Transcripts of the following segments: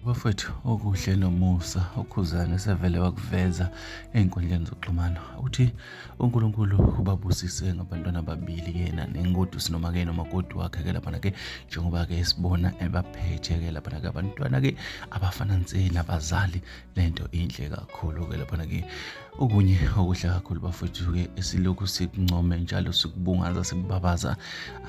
bafowethu okuhle nomusa ukhuzane sevele wakuveza ey'nkundleni zokuxhumana uthi unkulunkulu ubabusise ngabantwana ababili yena nengodu sinoma-ke nomakoti wakhe-ke laphana-ke njengoba-ke sibona ebaphethe-ke laphana-ke abantwana-ke abafana nse nabazali le nto inhle kakhulu-ke laphana-ke okunye okuhle kakhulu bafowethu-ke esilokhu sikuncome njalo sikubungaza sikubabaza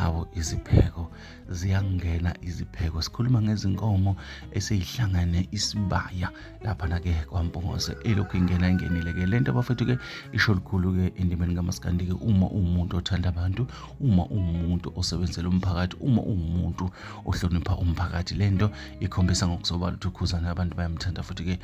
awo izipheko ziyangena izipheko sikhuluma ngezinkomo eseyihlangane isibaya laphana-ke kwampungose elokhu ingena ingenile-ke le nto abafethu-ke isho lukhulu-ke endimeni kamasikandi-ke uma uwumuntu othanda abantu uma uwumuntu osebenzela umphakathi uma uwumuntu ohlonipha umphakathi le nto ikhombisa ngokusobala ukuthi ukhuzane abantu bayamthanda futhi-ke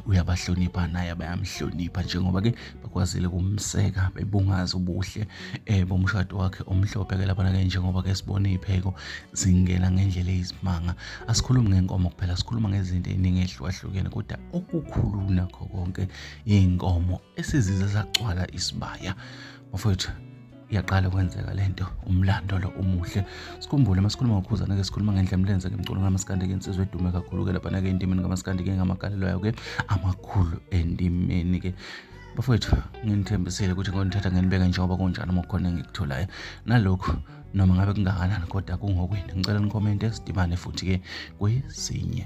uyabahlonipha naye bayamhlonipha njengoba-ke bekwazile kumseka bebungaza ubuhle eh bomshado wakhe omhlophe ke labana ke njengoba ke sibona ipheko zingena ngendlela eyisimanga asikhulumi ngenkomo kuphela sikhuluma ngezinto eziningi ezihlukahlukene kodwa okukhulu nakho konke inkomo esizize sagcwala isibaya mfowethu iyaqala kwenzeka le nto umlando lo umuhle sikhumbule uma sikhuluma ngokhuzana ke sikhuluma ngendlela emlenze ke mculo kamasikandi ke insizwe edume kakhulu ke laphana ke endimeni kamasikandi ke ngamagalelo yayo ke amakhulu endimeni ke bafowethu nginithembisile ukuthi ngonithatha ngenibeke njengoba kunjani uma kukhona engikutholayo nalokhu noma ngabe kungakanani kodwa kungokwini ngicela nikhomente sidibane futhi-ke kwesinye